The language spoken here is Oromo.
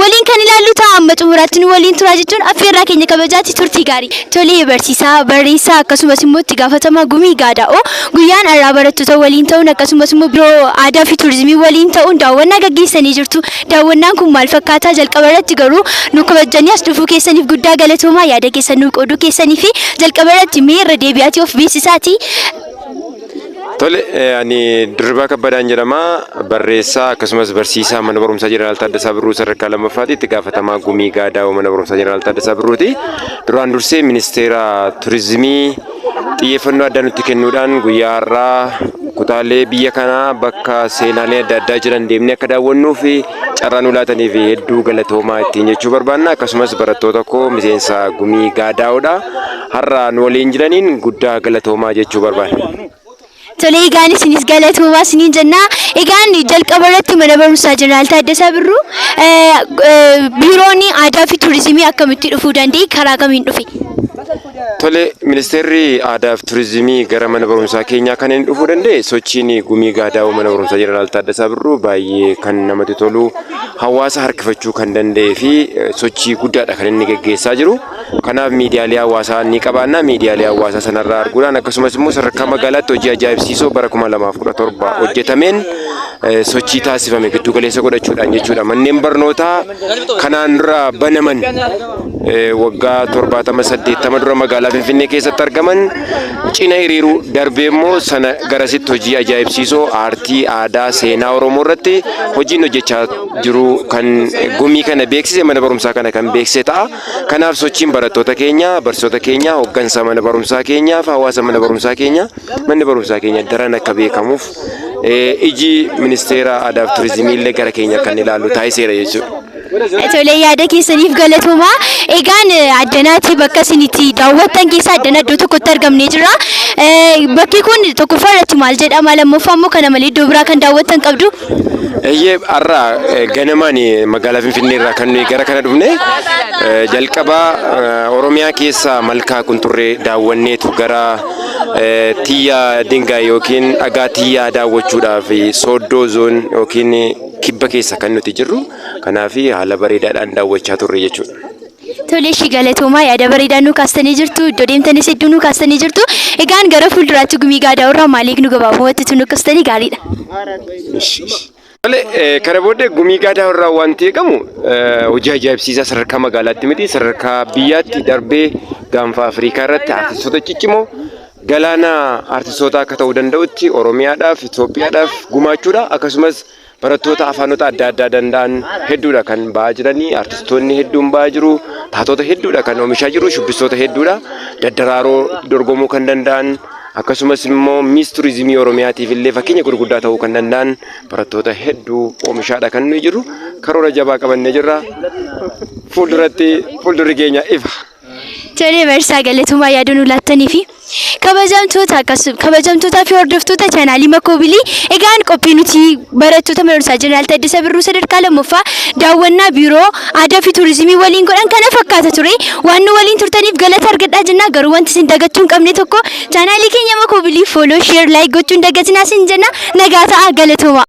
Waliin kan ilaallu ta'a amma xumuraatti nu waliin turaa jechuun affeerraa keenya kabajaatti turtii gaarii. Tolee barsiisaa, barreessaa akkasumas immoo itti gaafatamaa gumii gaadaa'oo guyyaan har'aa barattoota waliin ta'uun akkasumas immoo biroo aadaa fi turizimii waliin ta'uun daawwannaa gaggeessanii jirtu. Daawwannaan kun maal fakkaataa jalqaba irratti garuu nu kabajjanii as dhufuu keessaniif guddaa galatoomaa yaada keessan nuu qooduu keessanii fi jalqaba irratti mee irra deebi'aatii of beeksisaatii Tole, ani Dirribaa Kabbadaan jedhama. Barreessaa akkasumas barsiisaa Mana Barumsaa Jeneraal Taaddasaa Birruu sadarkaa lammaffaati. Itti gaafatamaa gumii gaadaawoo Mana Barumsaa Jeneraal Taaddasaa Birruuti. Duraan dursee Ministeera Turizimii xiyyeeffannoo addaa nutti kennuudhaan guyyaa har'aa kutaalee biyya kanaa bakka seenaalee adda addaa jiran deemnee akka daawwannuu fi carraa nu laataniif hedduu galatoomaa ittiin jechuu barbaanna. Akkasumas barattoota koo miseensa gumii gaadaa'oodha. Har'a nu waliin jiraniin guddaa galatoomaa jechuu barbaada. Tole egaan isinis galatoomaa isiniin jenna. Egaan jalqaba irratti mana barumsaa Jeneraal Taaddasaa Birruu eh, eh, biiroon aadaa fi turizimii akkamitti dhufuu danda'e karaa kamiin dhufe? Tole ministeerri aadaa fi turizimii gara mana barumsaa keenyaa kan inni dhufuu danda'e sochiin gumii gaadaa'uu mana barumsaa jeneraal Taaddasaa Birruu baay'ee kan namatti tolu hawaasa harkifachuu kan danda'ee fi eh, sochii guddaadha kan inni geggeessaa jiru. Kanaaf miidiyaalee hawaasaa ni qabaanna. Miidiyaalee hawaasaa sanarraa arguudhaan akkasumas immoo sadarkaa magaalaatti hojii ajaa'ibsiisoo bara 2017 hojjetameen sochii taasifame giddu galeessa godhachuudhaan jechuudha. Manneen barnootaa kanaan dura banaman waggaa 70 80 dura magaalaa Finfinnee keessatti argaman cina hiriiruu darbee immoo sana garasitti hojii ajaa'ibsiisoo aartii, aadaa, seenaa Oromoo irratti hojiin hojjechaa jiru kan gumii kana beeksise mana barumsaa kana kan beeksise ta'a. Kanaaf sochiin barattoota keenyaa, barsiisota keenyaa, hooggansa mana barumsaa keenyaa fi hawaasa mana barumsaa keenyaa manni barumsaa keenya daran akka beekamuuf iji ministeera aadaa fi turizimii illee gara keenya akka inni ilaalu taasiseera jechuudha. Tolee yaada keessaniif galatooma. Egaan addanaatti bakka isin itti daawwattan keessa addana iddoo tokkotti argamnee jira. Bakki kun tokkoffaa irratti maal jedhama lammaffaa immoo kana malee iddoo biraa kan daawwattan qabdu. Eeyyee har'a eh, ganamaan eh, magaalaa Finfinnee irraa kan nuyi gara kana dhufne eh, jalqaba eh, Oromiyaa keessa malkaa kunturree daawwanneetu gara eh, tiyyaa dingaay yookiin dhagaa tiyyaa daawwachuudhaaf eh, sooddoo zoon yookiin eh, kibba keessa kan nuti jirru kanaaf haala bareedaadhaan daawwachaa turre jechuudha. Tole ishii galatoomaa yaada bareedaa nuu kaastanii jirtu iddoo deemtanis hedduu nuu kaastanii jirtu egaan gara fuulduraatti gumii gaadaa irraa maal eegnu gabaabumatti utuu nuu kaastanii gaariidha. Tole eh, kana booddee gumii gaadaa irraa wanti eegamu eh, hojii ajaa'ibsiisaa sadarkaa magaalaatti miti sadarkaa biyyaatti darbee gaanfa Afrikaa irratti artistoota ciccimoo galaana artistootaa akka ta'uu danda'utti Oromiyaadhaaf Itoophiyaadhaaf gumaachuudha akkasumas Barattoota afaanota adda addaa danda'an hedduudha kan ba'aa jiranii, artistoonni hedduun ba'aa jiru, taatoota hedduudha kan oomishaa jiru, shubbistoota hedduudha daddaraaroo dorgomuu kan danda'an, akkasumas immoo miis turizimii Oromiyaatiif illee fakkeenya gurguddaa ta'uu kan danda'an barattoota hedduu oomishaadha kan nuyi jiru. Karoora jabaa qabannee jirra. Fuulduratti fuuldurri keenya ifa. Tole barsiisaa galatomaa yaada nu laattanii fi kabajamtoota akkasuma kabajamtootaa fi hordoftoota chaanaalii Makoobilii egaan qophii nuti barattoota mana barumsaa Jeneraal Taaddasaa Birruu sadarkaa lammaffaa daawwannaa biiroo aadaa fi tuurizimii waliin godhan kana fakkaata ture waan nu waliin turtaniif galata argadhaa jennaa garuu wanti isin dagachuu hin qabne tokko chaanaalii keenya Makoobilii fooloo sheer laayik gochuun dagatinaa isin jenna nagaa ta'aa galatoomaa.